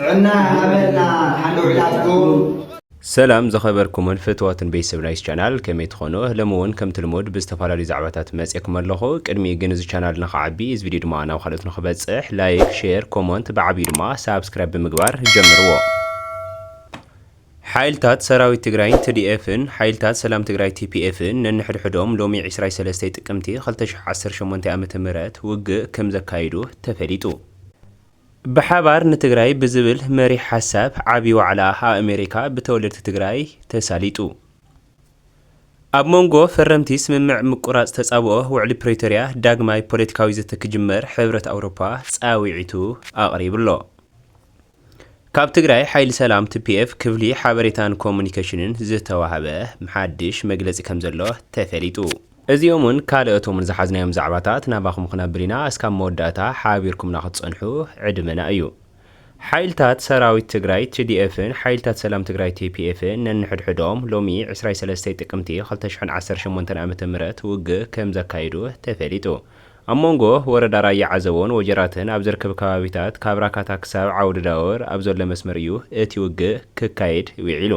ጥዕና ይሃበልና ሓለውላትኩም። ሰላም ዝኸበርኩምን ፍትዋትን ቤተሰብ ናይስ ቻናል ከመይ ትኾኑ ሎሚ እውን ከምቲ ልሙድ ብዝተፈላለዩ ዛዕባታት መፅኤኩም ኣለኹ ቅድሚኡ ግን እዚ ቻናል ንኽዓቢ እዚ ቪድዮ ድማ ናብ ካልኦት ንኽበፅሕ ላይክ ሼር ኮሞንት ብዓብዩ ድማ ሳብስክራይብ ብምግባር ጀምርዎ ሓይልታት ሰራዊት ትግራይን ትዲኤፍን ሓይልታት ሰላም ትግራይ ቲፒኤፍን ነንሕድሕዶም ሎሚ 23 ጥቅምቲ 2018 ዓ ም ውግእ ከም ዘካይዱ ተፈሊጡ ብሓባር ንትግራይ ብዝብል መሪሕ ሓሳብ ዓብዪ ዋዕላ ኣኣሜሪካ ብተወለድቲ ትግራይ ተሳሊጡ። ኣብ ሞንጎ ፈረምቲ ስምምዕ ምቁራፅ ተፃብኦ ውዕሊ ፕሪቶሪያ ዳግማይ ፖለቲካዊ ዘተ ክጅመር ሕብረት ኣውሮፓ ፃዊዒቱ ኣቕሪብሎ። ካብ ትግራይ ሓይሊ ሰላም፣ ትፒኤፍ፣ ክፍሊ ሓበሬታን ኮሙኒኬሽንን ዝተዋህበ ሓድሽ መግለፂ ከምዘሎ ተፈሊጡ። እዚኦምን ካልኦቶምን ዝሓዝናዮም ዛዕባታት ናባኹም ክነብል ኢና እስካብ መወዳእታ ሓባቢርኩምና ክትጸንሑ ዕድመና እዩ። ሓይልታት ሰራዊት ትግራይ ትዲኤፍን ሓይልታት ሰላም ትግራይ ቴፒኤፍን ነንሕድሕዶም ሎሚ ዕስራይ ሰለስተይ ጥቅምቲ ክልተ ሽሕን ዓሰርተ ሸሞንተን ዓመተ ምህረት ውግእ ከምዘካየዱ ተፈሊጡ። ኣብ ሞንጎ ወረዳ ራያ ዓዘቦን ወጀራትን ኣብ ዝርከብ ከባቢታት ካብ ራካታ ክሳብ ዓውደ ዳወር ኣብ ዘሎ መስመር እዩ እቲ ውግእ ክካየድ ዊዒሉ።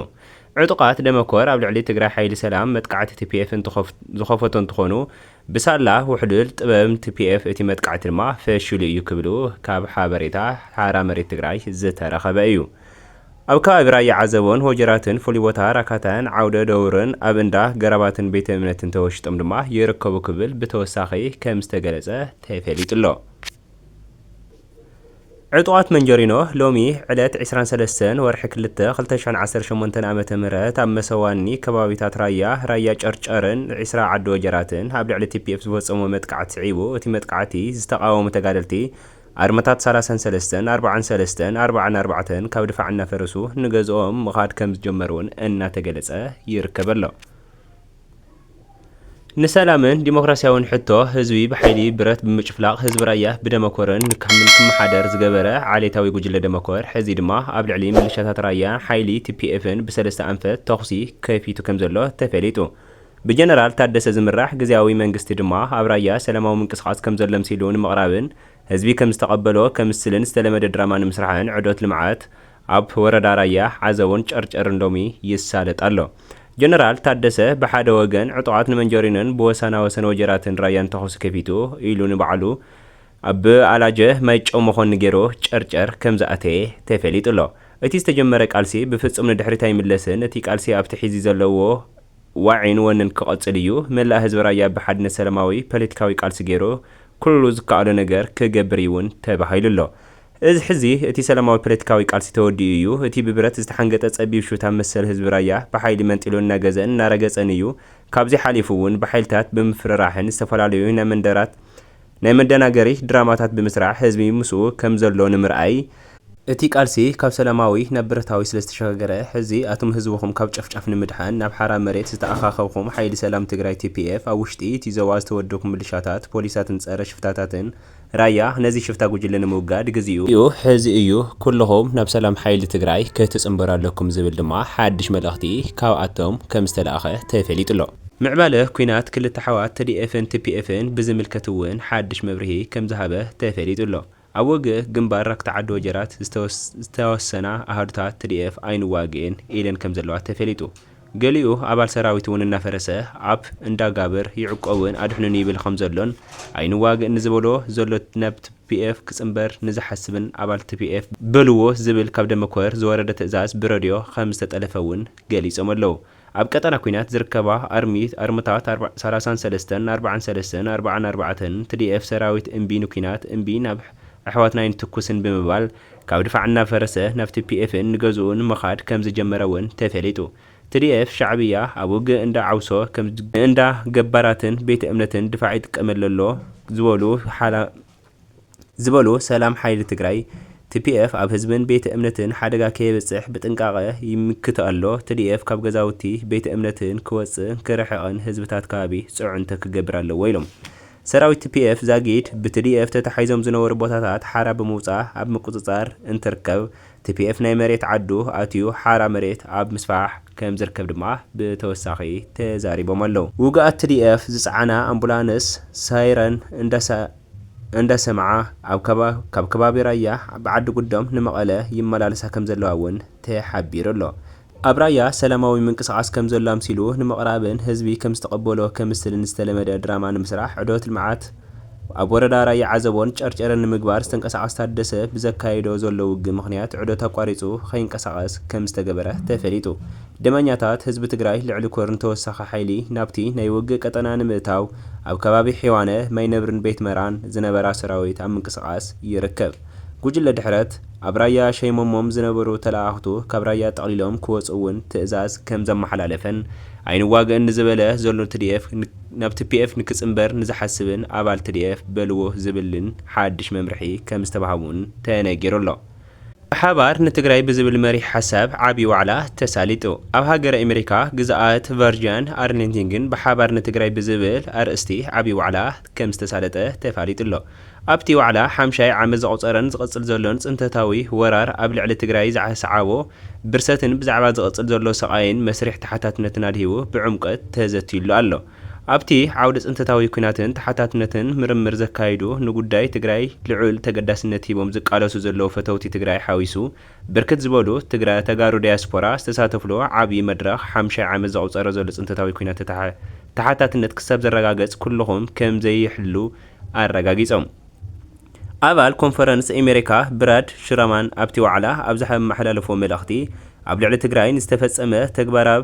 ዕጡቓት ደመኮር ኣብ ልዕሊ ትግራይ ሓይሊ ሰላም መጥቃዕቲ ቲፒኤፍ ዝኸፈቱ እንትኾኑ ብሳላ ውሕሉል ጥበብ ቲፒኤፍ እቲ መጥቃዕቲ ድማ ፈሺሉ እዩ ክብሉ ካብ ሓበሬታ ሓራ መሬት ትግራይ ዝተረኸበ እዩ። ኣብ ከባቢ ራያ ዓዘቦን ወጀራትን ፍሉይ ቦታ ራካታን ዓውደ ደውርን ኣብ እንዳ ገራባትን ቤተ እምነትን ተወሺጦም ድማ ይርከቡ ክብል ብተወሳኺ ከምዝተገለፀ ተፈሊጡ'ሎ። ዕጡቓት መንጀሪኖ ሎሚ ዕለት ዕስራን ሰለስተን ወርሒ ክልተ ክልተ ሽሕን ዓሰርተ ሸሞንተን ኣመተ ምህረት ኣብ መሰዋኒ ከባቢታት ራያ፣ ራያ ጨርጨርን ዒስራ ዓዲ ወጀራትን ኣብ ልዕሊ ቲፒኤፍ ዝፈፀምዎ መጥቃዕቲ ስዒቡ እቲ መጥቃዕቲ ዝተቓወሙ ተጋደልቲ ኣርማታት ሰላሳን ሰለስተን፣ ኣርባዓን ሰለስተን፣ ኣርባዓን ኣርባዕተን ካብ ድፋዕ እናፈረሱ ንገዝኦም ምኻድ ከምዝጀመሩ'ውን እናተገለፀ ይርከብ'ሎ። ንሰላምን ዲሞክራሲያውን ሕቶ ህዝቢ ብሓይሊ ብረት ብምጭፍላቕ ህዝቢ ራያ ብደመኮርን ንካምን ክመሓደር ዝገበረ ዓሌታዊ ጉጅለ ደመኮር ሕዚ ድማ ኣብ ልዕሊ ምልሻታት ራያን ሓይሊ ቲፒኤፍን ብሰለስተ ኣንፈት ተኹሲ ከፊቱ ከምዘሎ ተፈሊጡ። ብጀነራል ታደሰ ዝምራሕ ግዝያዊ መንግስቲ ድማ ኣብ ራያ ሰላማዊ ምንቅስቓስ ከምዘሎ ኣምሲሉ ንምቕራብን ህዝቢ ከምዝተቐበሎ ከምስልን ዝተለመደ ድራማ ንምስራሕን ዑደት ልምዓት ኣብ ወረዳ ራያ ዓዘቦን ጨርጨርን ሎሚ ይሳለጥ ኣሎ። ጀነራል ታደሰ ብሓደ ወገን ዕጡቓት ንመንጀሪኖን ብወሳና ወሰን ወጀራትን ራያን ተኹሲ ከፊቱ ኢሉ ንባዕሉ ኣብ ኣላጀ ማይጨው መኾኒ ገይሩ ጨርጨር ከምዝኣተየ ተፈሊጡ ኣሎ። እቲ ዝተጀመረ ቃልሲ ብፍፁም ንድሕሪት ኣይምለስን እቲ ቃልሲ ኣብቲ ሒዚ ዘለዎ ዋዒን ወንን ክቐፅል እዩ። መላእ ህዝቢ ራያ ብሓድነት ሰላማዊ ፓለቲካዊ ቃልሲ ገይሩ ኩሉ ዝከኣሎ ነገር ክገብር እዩውን ተባሂሉ ኣሎ። እዚ ሕዚ እቲ ሰላማዊ ፓለቲካዊ ቃልሲ ተወዲኡ እዩ። እቲ ብብረት ዝተሓንገጠ ጸቢብ ሹታ መሰል ህዝቢ ራያ ብሓይሊ መንጢሉ እናገዘእን እናረገጸን እዩ። ካብዚ ሓሊፉ እውን ብሓይልታት ብምፍርራሕን ዝተፈላለዩ ናይ መንደራት ናይ መደናገሪ ድራማታት ብምስራሕ ህዝቢ ምስኡ ከም ዘሎ ንምርኣይ፣ እቲ ቃልሲ ካብ ሰላማዊ ናብ ብረታዊ ስለ ዝተሸጋገረ ሕዚ ኣቱም ህዝብኹም ካብ ጨፍጫፍ ንምድሓን ናብ ሓራ መሬት ዝተኣኻኸብኹም ሓይሊ ሰላም ትግራይ፣ TPF፣ ኣብ ውሽጢ እቲ ዞባ ዝተወደብኩም ምልሻታት፣ ፖሊሳትን ጸረ ሽፍታታትን፣ ራያ ነዚ ሽፍታ ጉጅለ ንምውጋድ ግዚኡ ሕዚ እዩ ኩሉኹም ናብ ሰላም ሓይሊ ትግራይ ክትጽንበሩ ኣለኩም ዝብል ድማ ሓድሽ መልእኽቲ ካብኣቶም ከምዝተላእኸ ተፌሊጡ'ሎ። ምዕባለ ኩናት ክልተ ኣሕዋት ተዲኤፍን ቲፒኤፍን ብዝምልከት እውን ሓድሽ መብርሂ ከምዝሃበ ተፌሊጡ'ሎ። ኣብ ወግእ ግንባር ራክታዓዲ ወጀራት ዝተወሰና ኣሃዱታት ትዲኤፍ ኣይንዋግእን ኢለን ከምዘለዋ ተፌሊጡ። ገሊኡ ኣባል ሰራዊት'ውን እናፈረሰ ኣብ እንዳ ጋብር ይዕቆብን ኣድሕኑኒ ይብል ከም ዘሎን፣ ኣይንዋግእ ንዝበሎ ዘሎ ናብ ትፒኤፍ ክጽንበር ንዝሓስብን ኣባል ትፒኤፍ በሉዎ ዝብል ካብ ደመኮር ዝወረደ ትእዛዝ ብረድዮ ከም ዝተጠለፈ'ውን ገሊጾም ኣለው። ኣብ ቀጠና ኲናት ዝርከባ ኣርሚ ኣርምታት ኣርብ ሰላሳን ሰለስተን ኣርብዓን ሰለስተን ኣርብዓን ኣርባዕተን፣ ትዲኤፍ ሰራዊት እምቢ ንኲናት፣ እምቢ ናብ ኣሕዋትና ኣይንትኩስን ብምባል፣ ካብ ድፋዕ እናፈረሰ ናብ ቲፒኤፍን ንገዝኡን ምኻድ ከምዝጀመረ እውን ተፌሊጡ። ትዲኤፍ፣ ሻዕብያ፣ ኣብ ውግእ እንዳ ዓውሶ ከም እንዳ ገባራትን ቤተ እምነትን ድፋዕ ይጥቀመሉ ኣሎ ዝበሉ ዝበሉ ሰላም ሓይሊ ትግራይ፣ ቲፒኤፍ ኣብ ህዝብን ቤተ እምነትን ሓደጋ ከየብፅሕ ብጥንቃቐ ይምክት ኣሎ። ትዲኤፍ ካብ ገዛውቲ ቤተ እምነትን ክወፅእን ክርሕቕን ህዝብታት ከባቢ ፅዕንቶ ክገብር ኣለዎ ኢሎም። ሰራዊት ቲፒኤፍ ዛጊድ ብትዲኤፍ ተታሒዞም ዝነበሩ ቦታታት ሓራ ብምውፃእ ኣብ ምቁፅፃር እንትርከብ፣ ቲፒኤፍ ናይ መሬት ዓዱ ኣትዩ ሓራ መሬት ኣብ ምስፋሕ ከምዝርከብ ድማ ብተወሳኺ ተዛሪቦም ኣለው። ውጉኣት ትዲኤፍ ዝፀዓና ኣምቡላንስ ሳይረን እንዳሰምዓ ካብ ከባቢ ራያ ብዓዲ ጉዶም ንመቐለ ይመላለሳ ከምዘለዋ እውን ተሓቢሩ ኣሎ። ኣብ ራያ ሰላማዊ ምንቅስቓስ ከምዘሎ ኣምሲሉ ንምቕራብን ህዝቢ ከምዝተቐበሎ ከምስልን ዝተለመደ ድራማ ንምስራሕ ዑደት ልምዓት ኣብ ወረዳ ራያ ዓዘቦን ጨርጨርን ንምግባር ዝተንቀሳቐስ ታደሰ ብዘካይዶ ዘሎ ውግእ ምኽንያት ዑደት ኣቋሪፁ ከይንቀሳቐስ ከምዝተገበረ ተፈሊጡ ደመኛታት ህዝቢ ትግራይ ልዕሊ ኮርን ተወሳኺ ሓይሊ ናብቲ ናይ ውግእ ቀጠና ንምእታው ኣብ ከባቢ ሒዋነ ማይነብርን ቤትመራን ዝነበራ ሰራዊት ኣብ ምንቅስቓስ ይርከብ። ጉጅለ ድሕረት፣ ኣብ ራያ ሸይሞሞም ዝነበሩ ተለኣኣኽቱ ካብ ራያ ጠቕሊሎም ክወጽኡ እውን ትእዛዝ ከም ዘመሓላለፈን፣ ኣይንዋግእን ንዝበለ ዘሎ ትዲኤፍ ናብ ትፒኤፍ ንክጽንበር ንዝሓስብን ኣባል ትዲኤፍ በልዎ ዝብልን ሓድሽ መምርሒ ከም ዝተባህቡን ተነጊሩ ኣሎ። ብሓባር ንትግራይ ብዝብል መሪሕ ሓሳብ ዓቢ ዋዕላ ተሳሊጡ። ኣብ ሃገረ ኤመሪካ ግዝኣት ቨርጂያን ኣርሊንቲንግን ብሓባር ንትግራይ ብዝብል ኣርእስቲ ዓቢ ዋዕላ ከም ዝተሳለጠ ተፋሊጡ ኣሎ። ኣብቲ ዋዕላ ሓምሻይ ዓመት ዘቑፀረን ዝቕፅል ዘሎን ፅንተታዊ ወራር ኣብ ልዕሊ ትግራይ ዝኣስዓቦ ብርሰትን ብዛዕባ ዝቕፅል ዘሎ ሰቓይን መስሪሕ ተሓታትነትን ኣድሂቡ ብዕምቆት ተዘትዩሉ ኣሎ። ኣብቲ ዓውዲ ፅንተታዊ ኲናትን ተሓታትነትን ምርምር ዘካይዱ ንጉዳይ ትግራይ ልዑል ተገዳስነት ሂቦም ዝቃለሱ ዘለዉ ፈተውቲ ትግራይ ሓዊሱ ብርክት ዝበሉ ተጋሩ ዳያስፖራ ዝተሳተፍሉ ዓብዪ መድረኽ ሓምሻይ ዓመት ዘቑፀረ ዘሎ ፅንተታዊ ኲናት ተሓታትነት ክሳብ ዝረጋገፅ ኩልኹም ከምዘይሕሉ ኣረጋጊጾም። ኣባል ኮንፈረንስ ኤሜሪካ ብራድ ሽራማን ኣብቲ ዋዕላ ኣብ ዝሓመሓላለፎ መልእኽቲ፣ ኣብ ልዕሊ ትግራይ ንዝተፈጸመ ተግባራብ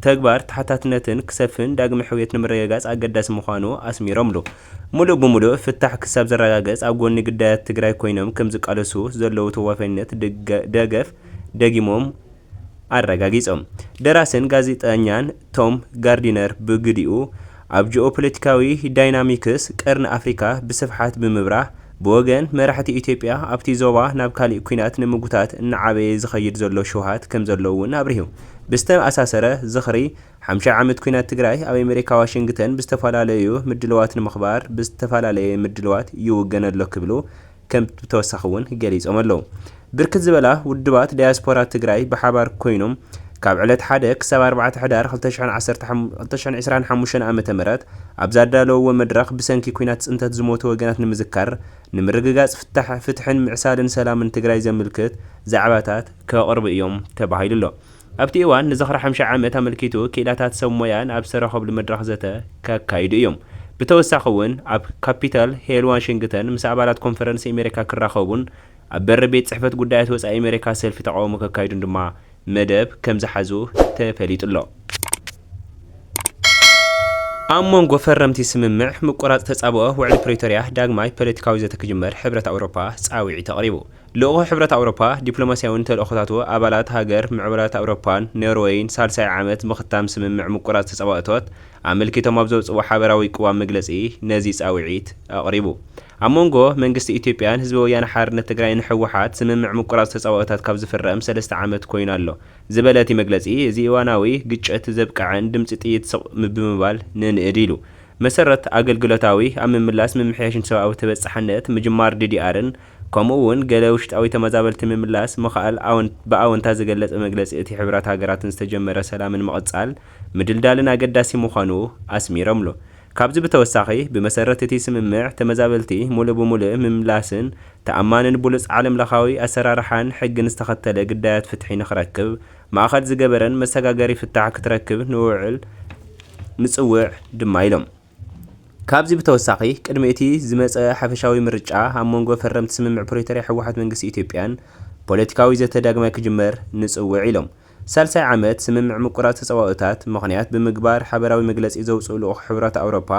ተግባር ተሓታትነትን ክሰፍን ዳግመ ሕውየት ንምርግጋጽ ኣገዳሲ ምዃኑ ኣስሚሮምሉ። ምሉእ ብምሉእ ፍታሕ ክሳብ ዝረጋገጽ ኣብ ጎኒ ግዳያት ትግራይ ኮይኖም ከምዝቃለሱ ዘለዉ ተዋፋይነት ደገፍ ደጊሞም ኣረጋጊጾም። ደራስን ጋዜጠኛን ቶም ጋርዲነር ብግዲኡ፣ ኣብ ጂኦፖለቲካዊ ዳይናሚክስ ቀርኒ ኣፍሪካ ብስፍሓት ብምብራህ፣ ብወገን መራሕቲ ኢትዮጵያ ኣብቲ ዞባ ናብ ካሊእ ኲናት ንምጉታት እናዓበየ ዝኸይድ ዘሎ ሽውሃት ከምዘሎ እውን ኣብሪሁ። ብዝተኣሳሰረ ዝኽሪ ሓምሻይ ዓመት ኲናት ትግራይ ኣብ ኣሜሪካ ዋሽንግተን ብዝተፈላለዩ ምድልዋት ንምኽባር ብዝተፈላለየ ምድልዋት ይውገን ኣሎ ክብሉ ከም ብተወሳኺ እውን ገሊፆም ኣለው። ብርክት ዝበላ ውድባት ዳያስፖራ ትግራይ ብሓባር ኮይኖም ካብ ዕለት ሓደ ክሳብ ኣርባዕተ ሕዳር ክልተ ሽሕን ዕስራን ሓሙሽተን ዓመተ ምህረት ኣብ ዛዳለውዎ መድረኽ ብሰንኪ ኩናት ፅንተት ዝሞቱ ወገናት ንምዝካር ንምርግጋፅ ፍትሕን ምዕሳልን ሰላምን ትግራይ ዘምልክት ዛዕባታት ከቕርቡ እዮም ተባሂሉ ኣሎ። ኣብቲ እዋን ንዝኽሪ ሓምሻይ ዓመት ኣመልኪቱ ክኢላታት ሰብ ሞያ ኣብ ዝተረኸብሉ መድረኽ ዘተ ከካይዱ እዮም። ብተወሳኺ እውን ኣብ ካፒታል ሄል ዋሽንግተን ምስ ኣባላት ኮንፈረንስ ኤሜሪካ ክራኸቡን ኣብ በሪ ቤት ፅሕፈት ጉዳያት ወፃኢ ኤሜሪካ ሰልፊ ተቓውሞ ከካይዱን ድማ መደብ ከምዝሓዙ ተፈሊጡ ኣሎ። ኣብ ሞንጎ ፈረምቲ ስምምዕ ምቁራፅ ተፃብኦ ውዕሊ ፕሪቶሪያ ዳግማይ ፖለቲካዊ ዘተ ክጅመር ሕብረት ኣውሮፓ ፃውዒት ኣቕሪቡ። ልኡኽ ሕብረት ኣውሮፓ ዲፕሎማስያውን ተልእኾታቱ ኣባላት ሃገር ምዕቡላት ኣውሮፓን ኖርወይን ሳልሳይ ዓመት ምኽታም ስምምዕ ምቁራጽ ተጻባእቶት ኣመልኪቶም ኣብ ዘውጽእዎ ሓበራዊ ቅዋም መግለጺ ነዚ ጻውዒት ኣቕሪቡ። ኣብ መንጎ መንግስቲ ኢትዮጵያን ህዝቢ ወያነ ሓርነት ትግራይን ህወሓት ስምምዕ ምቁራጽ ተጻባኦታት ካብ ዝፍረም ሰለስተ ዓመት ኮይኑ ኣሎ ዝበለ እቲ መግለጺ እዚ እዋናዊ ግጭት ዘብቀዐን ድምጺ ጥይት ስቕ ብምባል ነንእድ ኢሉ መሰረት ኣገልግሎታዊ ኣብ ምምላስ ምምሕያሽን ሰብኣዊ ተበጻሕነት ምጅማር ዲዲኣርን ከምኡ እውን ገለ ውሽጣዊ ተመዛበልቲ ምምላስ ምኽኣል ኣወንት ብኣወንታ ዝገለፀ መግለፂ እቲ ሕቡራት ሃገራትን ዝተጀመረ ሰላምን ምቕፃል ምድልዳልን ኣገዳሲ ምዃኑ ኣስሚረምሉ። ካብዚ ብተወሳኺ ብመሰረት እቲ ስምምዕ ተመዛበልቲ ሙሉእ ብሙሉእ ምምላስን ተኣማንን ብሉፅ ዓለም ለኻዊ ኣሰራርሓን ሕግን ዝተኸተለ ግዳያት ፍትሒ ንክረክብ ማእኸል ዝገበረን መሰጋገሪ ፍታሕ ክትረክብ ንውዕል ንፅውዕ ድማ ኢሎም። ካብዚ ብተወሳኺ ቅድሚ እቲ ዝመጸ ሓፈሻዊ ምርጫ ኣብ መንጎ ፈረምቲ ስምምዕ ፕሪቶርያ ህወሓት መንግስቲ ኢትዮጵያን ፖለቲካዊ ዘተ ዳግማይ ክጅመር ንጽውዕ ኢሎም ሳልሳይ ዓመት ስምምዕ ምቁራጽ ተጻባኦታት ምኽንያት ብምግባር ሓበራዊ መግለጺ ዘውጽኡ ልኡኽ ሕብራት ኣውሮፓ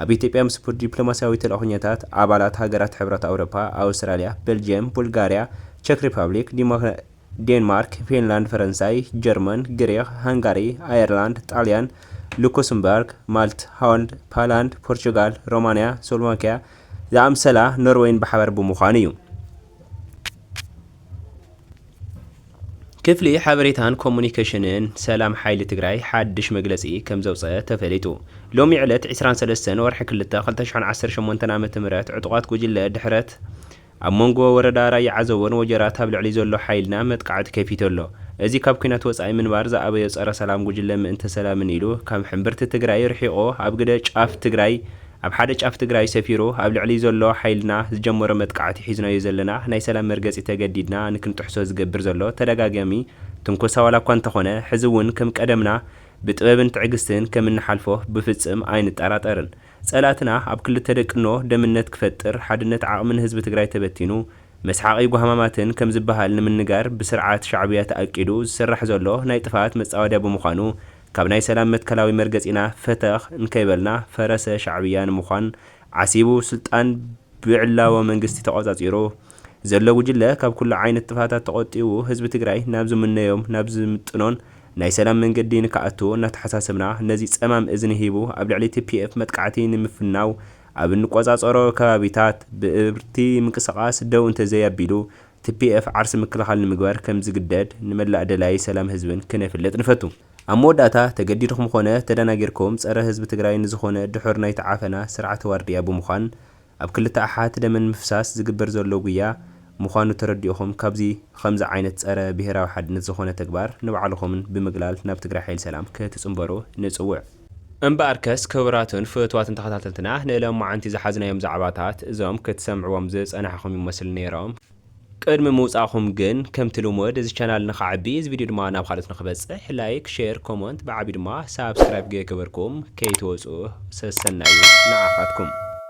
ኣብ ኢትዮጵያ ምስ ዲፕሎማሲያዊ ተልእኾኛታት ኣባላት ሃገራት ሕብራት ኣውሮፓ ኣውስትራልያ በልጅየም ቡልጋርያ ቸክ ሪፓብሊክ ዴንማርክ፣ ፊንላንድ፣ ፈረንሳይ፣ ጀርመን፣ ግሪኽ፣ ሃንጋሪ፣ ኣየርላንድ፣ ጣልያን፣ ሉክስምበርግ፣ ማልት፣ ሆልንድ፣ ፓላንድ፣ ፖርቹጋል፣ ሮማንያ፣ ስሎቫክያ ዝኣምሰላ ኖርወይን ብሓባር ብምዃን እዩ። ክፍሊ ሓበሬታን ኮሙኒኬሽንን ሰላም ሓይሊ ትግራይ ሓድሽ መግለፂ ከምዘውፀኣ ተፈሊጡ። ሎሚ ዕለት ዒስራን ሰለስተን ወርሒ ክልተ ክልተ ሽሕን ዓሰርተ ሸሞንተን ዓመተ ምህረት ዕጡቓት ጉጅለ ድሕረት፣ ኣብ መንጎ ወረዳ ራያ ዓዘቦን ወጀራት ኣብ ልዕሊ ዘሎ ሓይልና መጥቃዕቲ ከፊቱ ኣሎ። እዚ ካብ ኲናት ወጻኢ ምንባር ዝኣበዮ ጸረ ሰላም ጉጅለ ምእንተ ሰላምን ኢሉ ካብ ሕምብርቲ ትግራይ ርሒቑ ኣብ ግደ ጫፍ ትግራይ ኣብ ሓደ ጫፍ ትግራይ ሰፊሩ ኣብ ልዕሊ ዘሎ ሓይልና ዝጀመሮ መጥቃዕቲ ሒዝናዮ ዘለና ናይ ሰላም መርገጺ ተገዲድና ንክንጥሕሶ ዝገብር ዘሎ ተደጋጋሚ ትንኮሳ ዋላኳ እንተኾነ ሕዚ እውን ከም ቀደምና ብጥበብን ትዕግስትን ከምንሓልፎ ብፍጽም ኣይንጠራጠርን። ፀላእትና ኣብ ክልተ ደቅኖ ደምነት ክፈጥር ሓድነት ዓቕሚ ንህዝቢ ትግራይ ተበቲኑ መስሓቒ ጓህማማትን ከም ዝበሃል ንምንጋር ብስርዓት ሻዕብያ ተኣቂዱ ዝስራሕ ዘሎ ናይ ጥፍኣት መፃወድያ ብምዃኑ ካብ ናይ ሰላም መትከላዊ መርገፂና ፈተኽ እንከይበልና ፈረሰ ሻዕብያ ንምዃን ዓሲቡ ስልጣን ብዕላዎ መንግስቲ ተቖፃፂሩ ዘሎ ጉጅለ ካብ ኩሉ ዓይነት ጥፍኣታት ተቖጢቡ ህዝቢ ትግራይ ናብ ዝምነዮም ናብ ዝምጥኖን ናይ ሰላም መንገዲ ንክኣቱ እናተሓሳሰብና ነዚ ፀማም እዝኒ ሂቡ ኣብ ልዕሊ tpf መጥቃዕቲ ንምፍናው ኣብ እንቆፃፀሮ ከባቢታት ብእብርቲ ምንቅስቓስ ደው እንተዘይ ኣቢሉ tpf ዓርሰ ምክልኻል ንምግባር ከምዝግደድ ንመላእ ደላዪ ሰላም ህዝብን ክነፍልጥ ንፈቱ። ኣብ መወዳእታ ተገዲድኹም ኾነ ተዳናጊርኩም ፀረ ህዝቢ ትግራይ ንዝኾነ ድሑር ናይቲ ዓፈና ስርዓተ ዋርድያ ብምዃን ኣብ ክልተ ኣሓት ደመን ምፍሳስ ዝግበር ዘሎ ጉያ ሙኻኑ ተረዲእኹም ካብዚ ኸምዚ ዓይነት ጸረ ብሄራዊ ሓድነት ዝኾነ ተግባር ንባዕልኹምን ብምግላል ናብ ትግራይ ሓይሊ ሰላም ክትጽንበሩ ንጽውዕ። እምበኣርከስ ክብራትን ፍትዋትን ተኸታተልትና ንለማዓንቲ ዝሓዝናዮም ዛዕባታት እዞም ክትሰምዕዎም ዝጸናሕኹም ይመስሉ ኔሮም። ቅድሚ ምውጻእኹም ግን ከምቲ ልሙድ እዚ ቻናል ንኸዓቢ እዚ ቪድዮ ድማ ናብ ኻልኦት ንኽበጽሕ ላይክ ሼር ኮሞንት ብዓብዩ ድማ ሳብስክራይብ ገይገበርኩም ከይትወጹ ሰሰናዩ ንዓኻትኩም።